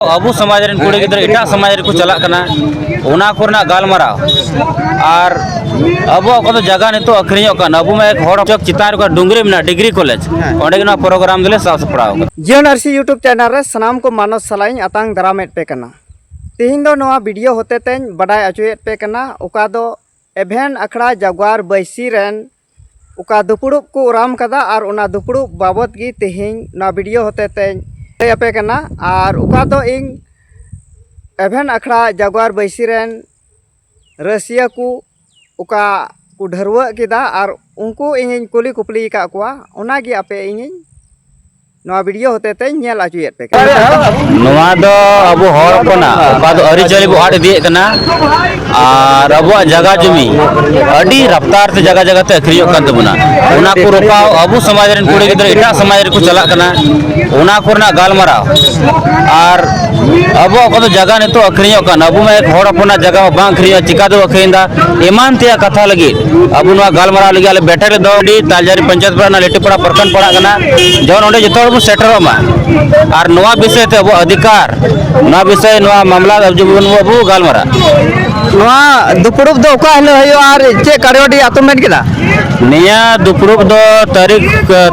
ᱟᱵᱚ ᱥᱚᱢᱟᱡᱽ ᱨᱮᱱ ᱠᱩᱲᱤ ᱜᱤᱫᱽᱨᱟᱹ ᱮᱴᱟᱜ ᱥᱚᱢᱟᱡᱽ ᱨᱮᱠᱚ ᱪᱟᱞᱟᱜ ᱠᱟᱱᱟ ᱚᱱᱟ ᱠᱚᱨᱮᱱᱟᱜ ᱜᱟᱞᱢᱟᱨᱟᱣ ᱟᱨ ᱟᱵᱚᱣᱟᱜ ᱚᱠᱟ ᱫᱚ ᱡᱟᱭᱜᱟ ᱱᱤᱛᱚᱜ ᱟᱹᱠᱷᱨᱤᱧᱚᱜ ᱠᱟᱱᱟ ᱟᱵᱚ ᱢᱟ ᱮᱠ ᱦᱚᱲ ᱪᱚᱠ ᱪᱮᱛᱟᱱ ᱨᱮ ᱰᱩᱝᱜᱽᱨᱤ ᱢᱮᱱᱟᱜᱼᱟ ᱰᱤᱜᱽᱨᱤ ᱠᱚᱞᱮᱡᱽ ᱚᱸᱰᱮ ᱜᱮ ᱱᱚᱣᱟ ᱯᱨᱳᱜᱨᱟᱢ ᱫᱚᱞᱮ ᱥᱟᱵ ᱥᱟᱯᱲᱟᱣ ᱠᱟᱫᱟ ᱡᱤᱭᱚᱱ ᱟᱨᱥᱤ ᱭᱩᱴᱩᱵᱽ ᱪᱮᱱᱮᱞ ᱨᱮ ᱥᱟᱱᱟᱢ ᱠᱚ ᱢᱟᱱᱚᱥ ᱥᱟᱞᱟᱜ ᱤᱧ ᱟᱛᱟᱝ ᱫᱟᱨᱟᱢᱮᱫ ᱯᱮ ᱠᱟᱱᱟ ᱛᱮᱦᱮᱧ ᱫᱚ ᱱᱚᱣᱟ ᱵᱷᱤᱰᱤᱭᱳ ᱦᱚᱛᱮ ᱛᱮᱧ ᱵᱟᱰᱟᱭ ᱦᱚᱪᱚᱭᱮᱫ ᱯᱮ ᱠᱟᱱᱟ ᱚᱠᱟ ᱫᱚ ᱮᱵᱷᱮᱱ ᱟᱠᱷᱲᱟ ᱡᱟᱜᱽᱣᱟᱨ ᱵᱟᱹᱭᱥᱤ ᱨᱮᱱ ᱚᱠᱟ ᱫᱩᱯᱲᱩᱵ ᱠᱚ ᱚᱨᱟᱢ ᱠᱟᱫᱟ ᱟᱨ ᱚᱱᱟ ᱫᱩᱯᱲᱩᱵ ᱵᱟᱵᱚᱫ ᱜᱮ ᱛᱮᱦᱮᱧ ᱱᱚᱣᱟ ᱵᱷᱤᱰᱤᱭᱳ ᱦᱚᱛᱮ ᱛᱮᱧ ᱞᱟᱹᱭ ᱟᱯᱮ ᱠᱟᱱᱟ ᱟᱨ ᱚᱠᱟ ᱫᱚ ᱤᱧ ᱮᱵᱷᱮᱱ ᱟᱠᱷᱲᱟ ᱡᱟᱜᱽᱣᱟᱨ ᱵᱟᱹᱭᱥᱤ ᱨᱮᱱ ᱨᱟᱹᱥᱤᱭᱟᱹ ᱠᱚ ᱚᱠᱟ ᱠᱚ ᱰᱷᱟᱹᱨᱣᱟᱹᱜ ᱠᱮᱫᱟ ᱟᱨ ᱩᱱᱠᱩ ᱤᱧᱤᱧ ᱠᱩᱞᱤ ᱠᱩᱯᱞᱤ ᱟᱠᱟᱫ ᱠᱚᱣᱟ ᱚᱱᱟᱜᱮ ᱟᱯᱮ ᱤᱧᱤᱧ ᱱᱚᱣᱟ ᱵᱷᱤᱰᱤᱭᱳ ᱦᱚᱛᱮ ᱛᱮ ᱧᱮᱞ ᱟᱪᱩᱭᱮᱫ ᱯᱮ ᱠᱟᱱᱟ ᱱᱚᱣᱟ ᱫᱚ ᱟᱵᱚ ᱦᱚᱲ ᱠᱚᱱᱟ ᱚᱠᱟ ᱫᱚ ᱟᱹᱨᱤ ᱪᱟᱹᱞᱤ ᱵᱚ ᱟᱫ ᱤᱫᱤᱭᱮᱫ ᱠᱟᱱᱟ ᱟᱨ ᱟᱵᱚᱣᱟᱜ ᱡᱟᱭᱜᱟ ᱡᱩᱢᱤ ᱟᱹᱰᱤ ᱨᱟᱯᱛᱟᱨ ᱛᱮ ᱡᱟᱭᱜᱟ ᱡᱟᱭᱜᱟ ᱛᱮ ᱟᱹᱠᱷᱨᱤᱧᱚᱜ ᱠᱟᱱ ᱛᱟᱵᱚᱱᱟ ᱚᱱᱟ ᱠᱚ ᱨᱚᱯᱟᱣ ᱟᱵᱚ ᱥᱚᱢᱟᱡᱽ ᱨᱮᱱ ᱠᱩᱲᱤ ᱜᱤᱫᱽᱨᱟᱹ ᱮᱴᱟᱜ ᱥᱚᱢᱟᱡᱽ ᱨᱮᱠᱚ ᱪᱟᱞᱟᱜ ᱠᱟᱱᱟ ᱚᱱᱟ ᱠᱚᱨᱮᱱᱟᱜ ᱜᱟᱞᱢᱟᱨᱟᱣ ᱟᱨ ᱟᱵᱚ ᱚᱠᱟ ᱫᱚ ᱡᱟᱭᱜᱟ ᱱᱤᱛᱚᱜ ᱟᱹᱠᱷᱨᱤᱧᱚᱜ ᱠᱟᱱ ᱟᱵᱚ ᱢᱟ ᱦᱚᱲ ᱦᱚᱯᱚᱱᱟᱜ ᱡᱟᱭᱜᱟ ᱢᱟ ᱵᱟᱝ ᱟᱹᱠᱷᱨᱤᱧᱚᱜ ᱪᱤᱠᱟ ᱫᱚ ᱟᱹᱠᱷᱨᱤᱧ ᱫᱟ ᱮᱢᱟᱱ ᱛᱮᱭᱟᱜ ᱠᱟᱛᱷᱟ ᱞᱟᱹᱜᱤᱫ ᱟᱵᱚ ᱱᱚᱣᱟ ᱜᱟᱞᱢᱟᱨᱟᱣ ᱞᱟᱹᱜᱤᱫ ᱟᱞᱮ ᱵᱮᱴᱟᱨᱤ ᱫᱚ ᱟᱹᱰᱤ ᱛᱟᱞᱡᱟᱨᱤ ᱯᱚᱧᱪᱟᱭᱮᱛ ᱯᱟᱲᱟ ᱞᱮᱴᱤᱯᱟᱲᱟ ᱯᱨᱚᱠᱷᱚᱸᱰ ᱯᱟᱲᱟᱜ ᱠᱟᱱᱟ ᱡᱮᱢᱚᱱ ᱚᱸᱰᱮ ᱡᱚᱛᱚ ᱦᱚᱲ ᱵᱚᱱ ᱥᱮᱴᱮᱨᱚᱜ ᱢᱟ ᱟᱨ ᱱᱚᱣᱟ ᱵᱤᱥᱚᱭ ᱛᱮ ᱟᱵᱚᱣᱟᱜ ᱚᱫᱷᱤᱠᱟᱨ ᱱᱚᱣᱟ ᱵᱤᱥᱚᱭ ᱱᱚᱣᱟ ᱢᱟᱢᱞᱟ ᱡᱮᱢᱚᱱ ᱟᱵᱚ ᱜᱟᱞᱢᱟᱨᱟᱜ ᱱᱚᱣᱟ ᱫᱩᱯᱲᱩᱵ ᱫᱚ ᱚᱠᱟ ᱦᱤᱞᱳᱜ ᱦᱩᱭᱩᱜᱼᱟ ᱟᱨ ᱪᱮᱫ ᱠᱟᱨᱭᱚᱰᱤ ᱟᱛᱳ ᱢᱮᱱ ᱠᱮᱫᱟ ᱱᱤᱭᱟᱹ ᱫᱩᱯᱲᱩᱵ ᱫᱚ ᱛᱟᱹᱨᱤᱠᱷ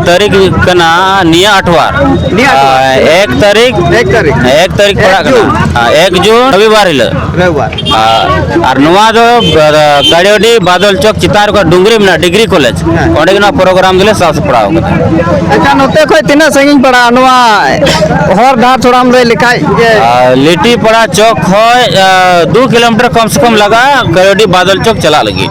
ᱛᱟᱹᱨᱤᱠᱷ ᱠᱟᱱᱟ ᱱᱤᱭᱟᱹ ᱟᱴᱷᱣᱟᱨ ᱱᱤᱭᱟᱹ ᱟᱴᱷᱣᱟᱨ। ᱮᱠ ᱛᱟᱹᱨᱤᱠᱷ ᱮᱠ ᱛᱟᱹᱨᱤᱠᱷ ᱮᱠ ᱛᱟᱹᱨᱤᱠᱷ ᱯᱟᱲᱟᱜ ᱮᱠ ᱡᱩᱱ। ᱠᱟᱱᱟ ᱮᱠ ᱡᱩᱱ ᱨᱚᱵᱤᱵᱟᱨ ᱦᱤᱞᱳᱜ ᱨᱚᱵᱤᱵᱟᱨ ᱟᱨ ᱱᱚᱣᱟ ᱫᱚ ᱠᱟᱲᱤᱭᱚᱰᱤ ᱵᱟᱫᱚᱞ ᱪᱚᱠ ᱪᱮᱛᱟᱱ ᱨᱮ ᱰᱩᱝᱜᱨᱤ ᱢᱮᱱᱟᱜᱼᱟ ᱰᱤᱜᱽᱨᱤ ᱠᱚᱞᱮᱡᱽ ᱚᱸᱰᱮ ᱜᱮ ᱱᱚᱣᱟ ᱯᱨᱳᱜᱨᱟᱢ ᱫᱚᱞᱮ ᱥᱟᱵ ᱥᱟᱯᱲᱟᱣ ᱠᱟᱫᱟ ᱟᱪᱪᱷᱟ ᱱᱚᱛᱮ ᱠᱷᱚᱱ ᱛᱤᱱᱟᱹᱜ ᱥᱟᱺᱜᱤᱧ ᱯᱟᱲᱟᱜᱼᱟ ᱱᱚᱣᱟ ᱦᱚᱨ ᱰᱟᱦᱟᱨ ᱛᱷᱚᱲᱟᱢ ᱞᱟᱹᱭ ᱞᱮᱠᱷᱟᱡ ᱞᱤᱴᱤ ᱯᱟᱲᱟ ᱪᱚᱠ ᱠᱷᱚᱱ ᱫᱩ ᱠᱤᱞᱳᱢᱤᱴᱟᱨ ᱠᱚᱢ ᱥᱮ ᱠᱚᱢ ᱞᱟᱜᱟᱜᱼᱟ ᱠᱟᱲᱤᱭᱚᱰᱤ ᱵᱟᱫᱚᱞ ᱪᱚᱠ ᱪᱟᱞᱟᱜ ᱞᱟᱹᱜᱤᱫ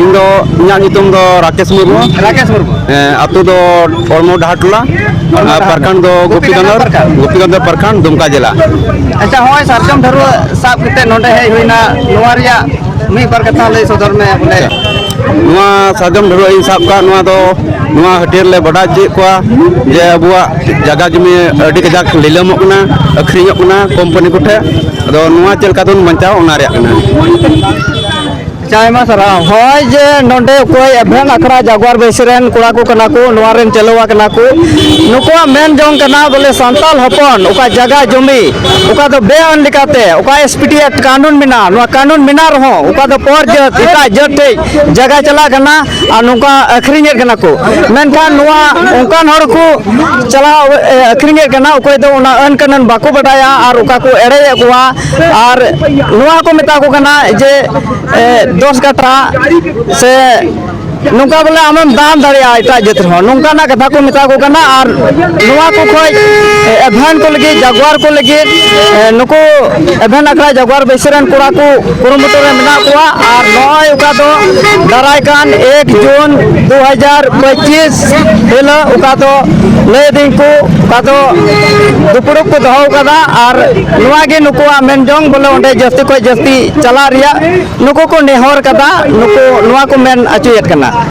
ᱤᱧ ᱫᱚ ᱤᱧᱟᱹᱜ ᱧᱩᱛᱩᱢ ᱫᱚ ᱨᱟᱠᱮᱥ ᱢᱩᱨᱢᱩ ᱨᱟᱠᱮᱥ ᱢᱩᱨᱢᱩ ᱟᱛᱳ ᱫᱚ ᱚᱲᱢᱚ ᱰᱟᱦᱟᱨ ᱴᱚᱞᱟ ᱟᱨ ᱯᱟᱨᱠᱷᱟᱱ ᱫᱚ ᱜᱳᱯᱤᱜᱟᱱᱫᱷᱚᱨ ᱜᱳᱯᱤᱜᱟᱱᱫᱷᱚᱨ ᱯᱟᱨᱠᱷᱟᱱ ᱫᱩᱢᱠᱟ ᱡᱮᱞᱟ ᱟᱪᱪᱷᱟ ᱦᱚᱸᱜᱼᱚᱭ ᱥᱟᱨᱡᱚᱢ ᱰᱷᱟᱹᱨᱣᱟᱹ ᱥᱟᱵ ᱠᱟᱛᱮ ᱱᱚᱰᱮ ᱦᱮᱡ ᱦᱩᱭᱱᱟ ᱱᱚᱣᱟ ᱨᱮᱭᱟᱜ ᱢᱤᱫ ᱵᱟᱨ ᱠᱟᱛᱷᱟ ᱞᱟᱹᱭ ᱥᱚᱫᱚᱨ ᱢᱮ ᱵᱚᱞᱮ ᱱᱚᱣᱟ ᱥᱟᱨᱡᱚᱢ ᱰᱷᱟᱹᱨᱣᱟᱹ ᱤᱧ ᱥᱟᱵ ᱠᱟᱜ ᱱᱚᱣᱟ ᱫᱚ ᱱᱚᱣᱟ ᱦᱟᱹᱴᱭᱟᱹᱨ ᱞᱮ ᱵᱟᱰᱟᱭ ᱦᱚᱪᱚᱭᱮᱫ ᱠᱚᱣᱟ ᱡᱮ ᱟᱵᱚᱣᱟᱜ ᱡᱟᱭᱜᱟ ᱡᱩᱢᱤ ᱟᱹᱰᱤ ᱠᱟᱡᱟᱠ ᱞᱤᱞᱟᱹᱢᱚᱜ ᱠᱟᱱᱟ ᱟᱹᱠᱷᱨᱤᱧᱚᱜ ᱠᱟᱱᱟ ᱠᱳᱢᱯᱟᱱᱤ ᱠᱚᱴᱷᱮᱱ ᱟᱫᱚ ᱱᱚᱣᱟ ᱪᱮᱫ ᱞᱮᱠᱟ ᱛᱮᱵᱚᱱ ᱵᱟᱧᱪᱟᱣ ᱚᱱᱟ ᱨᱮᱭᱟᱜ ᱠᱟᱱᱟ ᱟᱭᱢᱟ ᱥᱟᱨᱦᱟᱣ ᱦᱚᱸᱜᱼᱚᱭ ᱡᱮ ᱱᱚᱰᱮ ᱚᱠᱚᱭ ᱮᱵᱷᱮᱱ ᱟᱠᱷᱲᱟ ᱡᱟᱜᱣᱟᱨ ᱵᱟᱹᱭᱥᱤ ᱨᱮᱱ ᱠᱚᱲᱟ ᱠᱚ ᱠᱟᱱᱟ ᱠᱚ ᱱᱚᱣᱟ ᱨᱮᱱ ᱪᱟᱹᱞᱩᱣᱟ ᱠᱟᱱᱟ ᱠᱚ ᱱᱩᱠᱩᱣᱟᱜ ᱢᱮᱱ ᱡᱚᱝ ᱠᱟᱱᱟ ᱵᱚᱞᱮ ᱥᱟᱱᱛᱟᱞ ᱦᱚᱯᱚᱱ ᱚᱠᱟ ᱡᱟᱭᱜᱟ ᱡᱚᱢᱤ ᱚᱠᱟ ᱫᱚ ᱵᱮᱼᱟᱹᱱ ᱞᱮᱠᱟᱛᱮ ᱚᱠᱟ ᱮᱥ ᱯᱤ ᱴᱤ ᱮᱠᱴ ᱠᱟᱹᱱᱩᱱ ᱢᱮᱱᱟᱜᱼᱟ ᱱᱚᱣᱟ ᱠᱟᱹᱱᱩᱱ ᱢᱮᱱᱟᱜ ᱨᱮᱦᱚᱸ ᱚᱠᱟ ᱫᱚ ᱯᱚᱨ ᱡᱟᱹᱛ ᱮᱴᱟᱜ ᱡᱟᱹᱛ ᱴᱷᱮᱡ ᱡᱟᱭᱜᱟ ᱪᱟᱞᱟᱜ ᱠᱟᱱᱟ ᱟᱨ ᱱᱚᱝᱠᱟ ᱟᱹᱠᱷᱨᱤᱧᱮᱫ ᱠᱟᱱᱟ ᱠᱚ ᱢᱮᱱᱠᱷᱟᱱ ᱱᱚᱣᱟ ᱚᱱᱠᱟᱱ ᱦᱚᱲ ᱠᱚ ᱪᱟᱞᱟᱣ ᱟᱹᱠᱷᱨᱤᱧᱮᱫ ᱠᱟᱱᱟ ᱚᱠᱚᱭ ᱫᱚ ᱚᱱᱟ ᱟᱹᱱ ᱠᱟᱹᱱᱩᱱ ᱵᱟᱠᱚ ᱵᱟᱰᱟᱭᱟ ᱟᱨ ᱚᱠᱟ ᱠᱚ ᱮᱲᱮᱭᱮᱫ ᱠᱚᱣᱟ ᱟᱨ ᱱᱚᱣᱟ ᱠᱚ ᱢᱮᱛᱟ ᱠᱚ ᱠᱟᱱᱟ ᱡᱮ ᱫᱚᱥ ᱠᱟᱴᱷᱟ ᱥᱮ ᱱᱚᱝᱠᱟ ᱵᱚᱞᱮ ᱟᱢᱮᱢ ᱫᱟᱱ ᱫᱟᱲᱮᱭᱟᱜᱼᱟ ᱮᱴᱟᱜ ᱡᱟᱹᱛ ᱨᱮᱦᱚᱸ ᱱᱚᱝᱠᱟᱱᱟᱜ ᱠᱟᱛᱷᱟ ᱠᱚ ᱢᱮᱛᱟ ᱠᱚ ᱠᱟᱱᱟ ᱟᱨ ᱱᱚᱣᱟ ᱠᱚ ᱠᱷᱚᱡ ᱮᱵᱷᱮᱱ ᱠᱚ ᱞᱟᱹᱜᱤᱫ ᱡᱟᱜᱣᱟᱨ ᱠᱚ ᱞᱟᱹᱜᱤᱫ ᱱᱩᱠᱩ ᱮᱵᱷᱮᱱ ᱟᱠᱷᱲᱟ ᱡᱟᱜᱣᱟᱨ ᱵᱟᱹᱭᱥᱟᱹ ᱨᱮᱱ ᱠᱚᱲᱟ ᱠᱚ ᱠᱩᱨᱩᱢᱩᱴᱩ ᱨᱮ ᱢᱮᱱᱟᱜ ᱠᱚᱣᱟ ᱟᱨ ᱱᱚᱜᱼᱚᱭ ᱚᱠᱟ ᱫᱚ ᱫᱟᱨᱟᱭ ᱠᱟᱱ ᱮᱠ ᱡᱩᱱ ᱫᱩ ᱦᱟᱡᱟᱨ ᱯᱚᱸᱪᱤᱥ ᱦᱤᱞᱳᱜ ᱚᱠᱟ ᱫᱚ ᱞᱟᱹᱭ ᱫᱟᱹᱧ ᱠᱚ ᱚᱠᱟ ᱫᱚ ᱫᱩᱯᱲᱩᱵ ᱠᱚ ᱫᱚᱦᱚ ᱟᱠᱟᱫᱟ ᱟᱨ ᱱᱚᱣᱟ ᱜᱮ ᱱᱩᱠᱩᱣᱟᱜ ᱢᱮᱱ ᱡᱚᱝ ᱵᱚᱞᱮ ᱚᱸᱰᱮ ᱡᱟᱹᱥᱛᱤ ᱠᱷᱚᱱ ᱡᱟᱹᱥᱛᱤ ᱪᱟᱞᱟᱜ ᱨᱮᱭᱟᱜ ᱱᱩᱠᱩ ᱠᱚ ᱱᱮᱦᱚᱨ ᱠᱟᱫᱟ ᱱᱩᱠᱩ ᱱᱚᱣᱟ ᱠᱚ ᱢᱮᱱ ᱦᱚᱪᱚᱭᱮᱫ ᱠᱟᱱᱟ